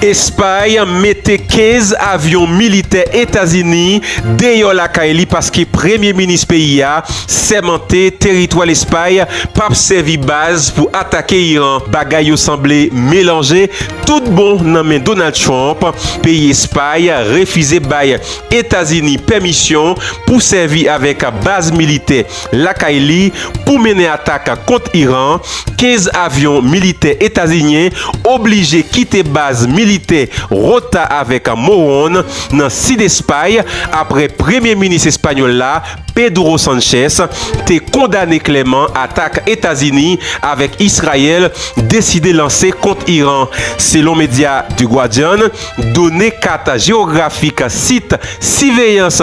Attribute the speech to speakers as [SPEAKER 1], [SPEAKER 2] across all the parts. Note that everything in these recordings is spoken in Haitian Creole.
[SPEAKER 1] Espay mete 15 avyon militè Etazini deyò lakay li paske premye minis peyi a sèmante teritwa Lespay pap sèvi baz pou atake Iran. Bagay yo sanble melanje tout bon nan men Donald Trump, peyi Espay refize bay Etazini pèmisyon pou sèvi avèk baz militè lakay li pou mennen atak kont Iran, 15 avyon militè etazinyen oblije kite baz militè Rota avèk Moron nan sid Espay apre premye minis espanyòl la, Pedro Sanchez, te kondane klèman atak Etazini avèk Israel deside lanse kont Iran, selon medya The Guardian. Done kat jewografik sit siveyans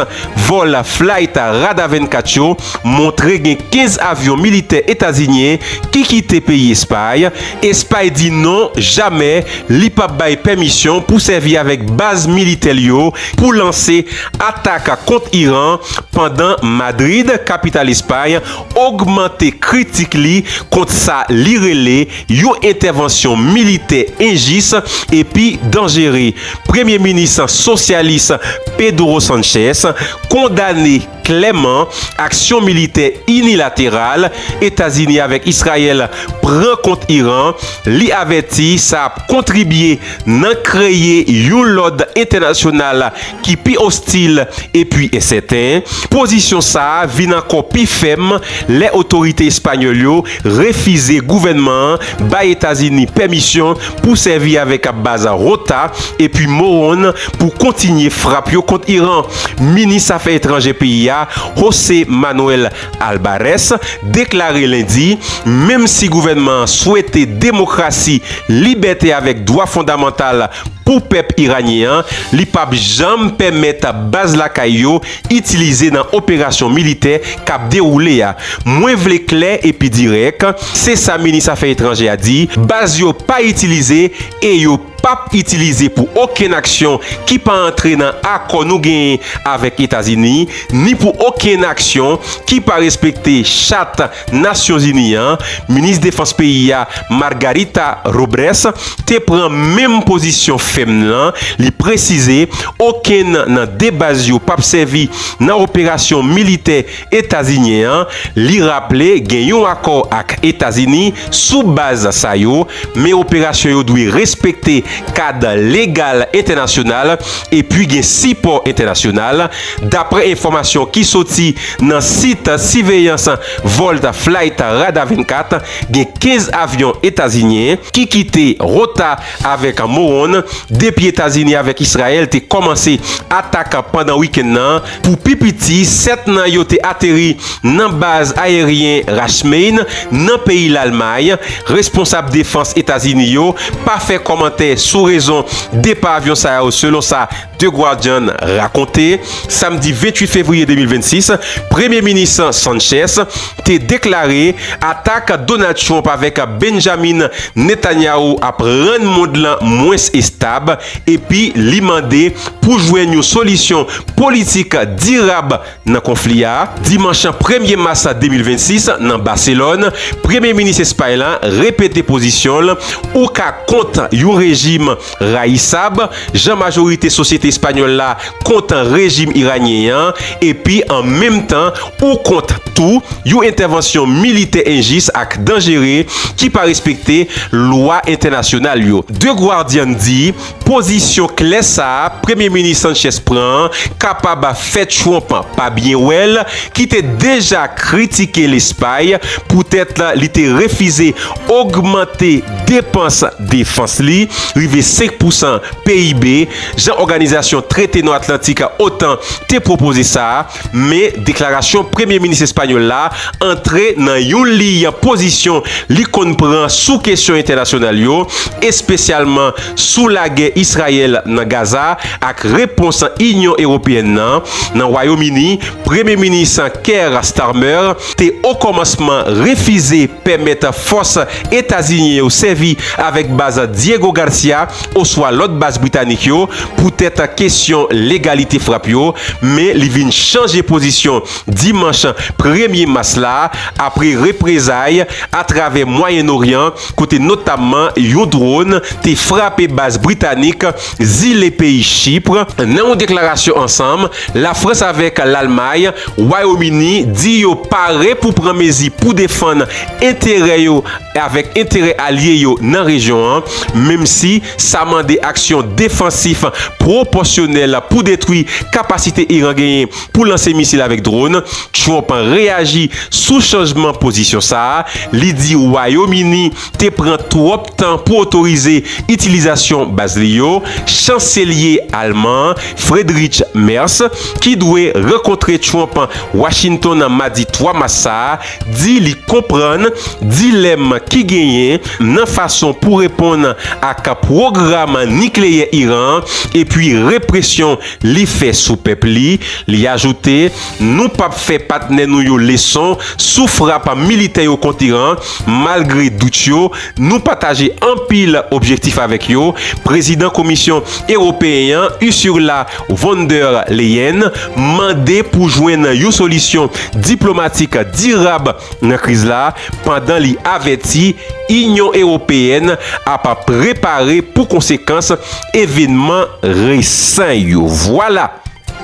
[SPEAKER 1] vòl Flight Radar 24 yo montre gen 15 avyon militè etazinyen ki kite peyi Espay. Espay di non, jamè li p ap bay pèmisyon pou sèvi avèk baz militè l yo pou lanse atak kont Iran pandan Madrid, kapital Espay, ogmante kritik li kont sa li rele Yon entèvansyon militè enjis epi danjere. Premye minis sosyalis Pedro Sanchez kondane klèman aksyon militè inilateral Etazini avèk Israel pran kont Iran, li avèti sa ap kontribye nan kreye yon lòd entènasyonal ki pi ostil epi ensèten, pozisyon sa a vin ankò pi fèm lè otorite espanyòl yo refize gouvènman an bay Etazini pèmisyon pou sèvi avèk baz Ghouta epi Morón pou kontinye frap yo kont Iran. Minis afè etranjè peyi a, José Manuel Albares deklare lendi menm si gouvènman an swete demokrasi, libète avèk dwa fondamantal pou pèp iranyen an, li p ap janm pèmèt baz lakay yo itilize nan operasyon militè k ap dewoule a. Mwen vle klè epi dirèk, se sa minis afè etranjè a di, baz yo pa itilize e yo. pap itilize pou okenn aksyon ki pa antre nan akò nou genyen avèk Etazini ni pou okenn aksyon ki pa respekte Chat Nasyonzini an, Minis Defans peyi a, Margarita Robrès, te pran menm pozisyon fèm lan, li presize okenn nan 2 baz yo pap sèvi nan operasyon militè Etazinyen an, li raple gen yon akò ak Etazini sou baz sa yo, men operasyon yo dwe respekte kad legal entènasyonal epi gen sipò entènasyonal, daprè enfòmasyon ki soti nan sit siveyans vòl Flight Radar 24, gen 15 avyon etazinyen ki kite Ghouta avèk Moron depi Etazini avèk Israel te kòmanse atak pandan wikenn nan. Pou pi piti, 7 nan yo te ateri nan baz ayeryen Rachmain, nan peyi Lalmay. Responsab defans Etazini yo pa fè kòmantè sou rezon depa avyon sa yo selon sa The Guardian rakonte. Samdi 28 fevriye 2026, Premye Minis Sanchez te deklare atak Donald Trump avèk Benjamin Netanyahu ap rann mond lan mwens estab. epi li mande pou jwenn yon solisyon politik dirab nan konfli a. Dimanch premye mas 2026, nan Baselòn, premye minis Espay la repete pozisyon l, Ou ka kont yon rejim rayisab, jan majorite sosyete espanyòl la kontan rejim iranyen an epi an menm tan ou kont tou yon entèvansyon militè enjis ak danjere ki pa respekte lwa entènasyonal yo. The Guardian di, Pozisyon klè sa a Premye Minis Sanchez pran an kapab fè Trump pa byen wè l, ki te deja kritike Lespay poutèt li te refize ogmante depans defans li rive 5 pousan PIB jan òganizasyon Trete Nò Atlantik, otan, te pwopoze sa, men deklarasyon premye minis espanyòl la antre nan yon liy pozisyon li konn pran sou kesyon entènasyonal yo, espesyalman sou lagè Israyèl nan Gaza ak repons Inyon Ewopeyèn nan. Nan Wayom Ini, premye minis Keir Starmer te okòmansman refize pèmèt fòs etazinyen yo sèvi avèk baz Diego Garcia, oswa lòt baz britanik yo poutèt kesyon legalite frap yo, men li vin chanje pozisyon dimanch premye mas la apre reprezay atravè Mwayen Oryan kote notamman yon dron te frape baz britanik zile peyi Chipr. Nan yon deklarasyon ansanm, Lafrans avèk Lalmay, Wayomini di yo pare pou pran mezi pou defann enterè yo avèk enterè alye yo nan rejyon an, menmsi sa mande aksyon defansif pwopòsyonèl pou detwi kapasite Iran genyen pou lanse misil avèk dron. Trump reyaji sou chanjman pozisyon sa a, li di Wayom Ini te pran twòp tan pou otorize itilizasyon baz li yo. Chanselye alman an, Friedrich Merz, ki dwe rankontre Trump Washington madi 3 mas sa a, di li konprann dilèm ki genyen nan fason pou reponn ak pwogram nikleyè Iran an epi represyon li fè sou pèp li. Li ajoute, Nou p ap fè patnè nou yo leson sou frap militè yo kont Iran, malgre dout yo, nou pataje anpil objektif avèk yo. Prezidan Komisyon Ewopeyen an, Ursula Von der Leyen mande pou jwenn yon solisyon diplomatik dirab nan kriz la pandan li avèti Inyon Ewopeyèn ap prepare pou konsekans evenman resan yo. Vwala!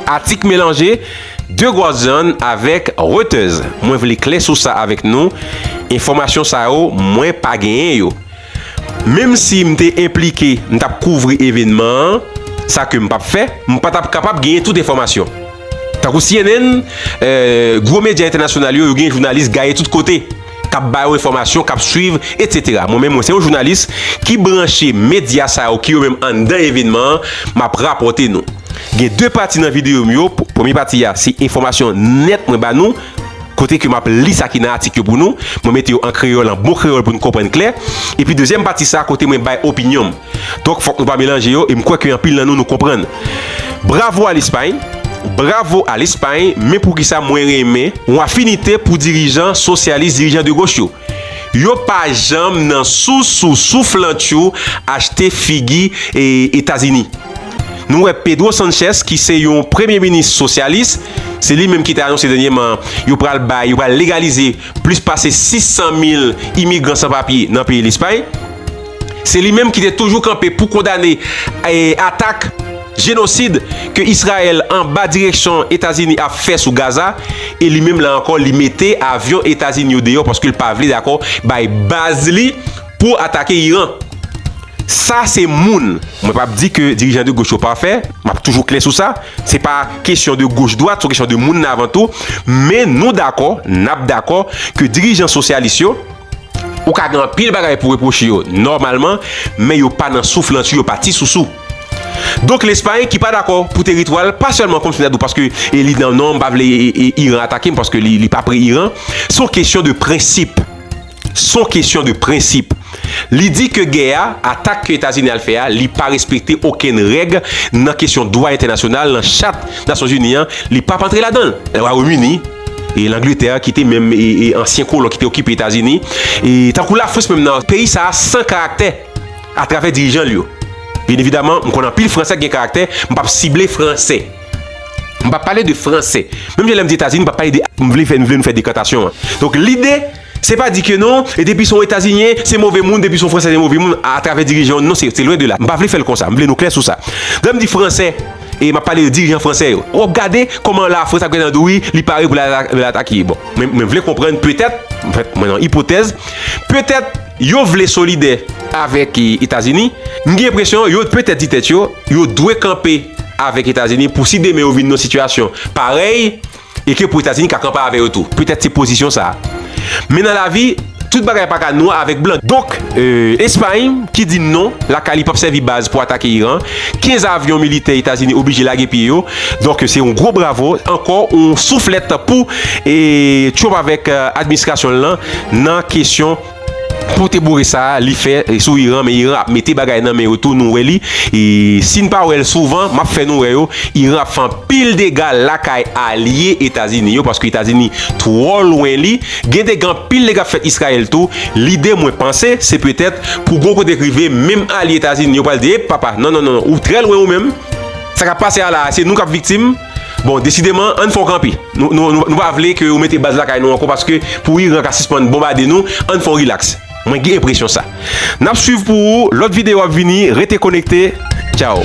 [SPEAKER 1] Atik melanje The Guardian avèk Reuters. Mwen vle klè sou sa avèk nou, enfòmasyon sa yo mwen pa genyen yo. Menm si m te enplike, m t ap kouvri evènman an, sa ke m p ap fè, m pa t ap kapab genyen tout enfòmasyon. Tankou cnn, gwo medya entènasyonal yo, yo gen jounalis gaye tout kote, k ap ba yo enfòmasyon, k ap swiv, etsetera. Mwen menm, mwen se yon jounalis ki branche medya sa yo ki yo menm anndan evènman an, m ap rapòte nou. Gen de pati nan videyo m yo, premye pati a se enfòmasyon nèt mwen ba nou, kote ke m ap li sa ki nan atik yo pou nou, mwen mete yo an kreyòl, an bon kreyòl pou nou konprann klè, epi dezyèm pati sa kote mwen bay opinyon m. Donk fòk nou pa melanje yo, e m kwè ke anpil nan nou nou konprann. Bravo a Lespay! Bravo a Lespay! Men poukisa mwen renmen yon afinite pou dirijan sosyalis, dirijan de goch yo? Yo pa janm nan sou sou souflantchou achte figi Etazini. Nou wè Pedro Sanchez ki se yon premye minis sosyalis, se li menm ki te anonse dènyeman yo pral bay, yo pral legalize plis pase 600 mil imigran san papye nan peyi Lespay. Se li menm ki te toujou kanpe pou kondane atak. Jenosid ke Israel anba direksyon Etazini ap fè sou Gaza e li menm la ankò li mete avyon Etazini yo deyò paske l pa vle dakò bay baz li pou atake Iran. Sa se moun. Mwen pap di ke dirijan de goch yo pafè, map toujou klè sou sa, se pa kesyon de goch dwat, son kesyon de moun nan avan tou, men nou dakò, nap dakò ke dirijan sosyalis yo, ou ka gen anpil bagay pou repwoche yo nòmalman, men yo pa nan souflantyou, yo pa ti sousou. Donk Lespay ki pa dakò pou teritwa l pa sèlman kòm Senadò paske li nan non m pa vle Iran atake m paske li pa pre Iran se yon kesyon de prensip se yon kesyon de prensip li di ke gè a atak ke Etazini al fè a li pa respekte okenn règ nan kesyon dwa entènasyonal nan chat Nasyonzini an li pap antre ladan l Wayom Ini e Langletè ki te menm ansyen kolon ki te okipe Etazini tankou Lafrans menm nan peyi sa a san karaktè. atravè dirijan l yo. Byen evidaman, m konn anpil Fransè k gen karaktè, m pa p sible Fransè. M pa p pale de Fransè. Menm jan lè m di Etazini, m pa p pale de. M vle fè, m vle nou fè dekantasyon an. Donk, lide, se pa di ke non, e depi se yon Etazinyen, se move moun, depi se yon Fransè, se move moun, atravè dirijan yo. Non, se lwen de la. M pa vle fè l konsa. M vle nou klè sou sa. Lè m di Fransè, e m ap pale de dirijan Fransè yo. W ap gade kòman Lafrans ap gentan di wi, li pare pou l al atake. Bon, mwen vle konprann, petèt, mwen nan ipotèz, petèt. Yo vle solidè avèk Etazini. M gen enpresyon yo petèt di tèt yo, yo dwe kanpe avèk Etazini pou si demen yo vin nan yon sitiyasyon parèy e ke pou Etazini ka kanpe avè yo tou. Petèt se pozisyon sa. Men nan lavi, tout bagay pa ka nwa avèk blan. Donk, Espay ki di non, lakay li p ap sèvi baz pou atake Iran, 15 avyon militè Etazini oblije lage pye yo, donk se yon gwo bravo, ankò yon souflèt pou Trump avèk administrasyon l lan nan kesyon pote boure sa li fè sou Iran, men Iran ap mete bagay nan men yo tou nou wè li, si n pa wè l souvan m ap fè nou wè yo, Iran ap fè anpil dega lakay alye Etazini yo paske Etazini twò lwen li, gen dega anpil dega ap fèt Izrayèl tou, lide mwen panse se petèt. Pou gwo kote k rive, menm alye Etazini yo pral di, Ep papa, non non non, ou trè lwen ou menm. Sa k ap pase a la a, se nou k ap viktim. Bon, desideman, ann fè w kanpe. Nou pa vle ke ou mete baz lakay nou ankò paske pou Iran ka sispann bonbade nou, ann fè w rilaks. Mwen gen enpresyon sa. N ap swiv pou ou, lòt videyo ap vini, rete konekte. Tchaw!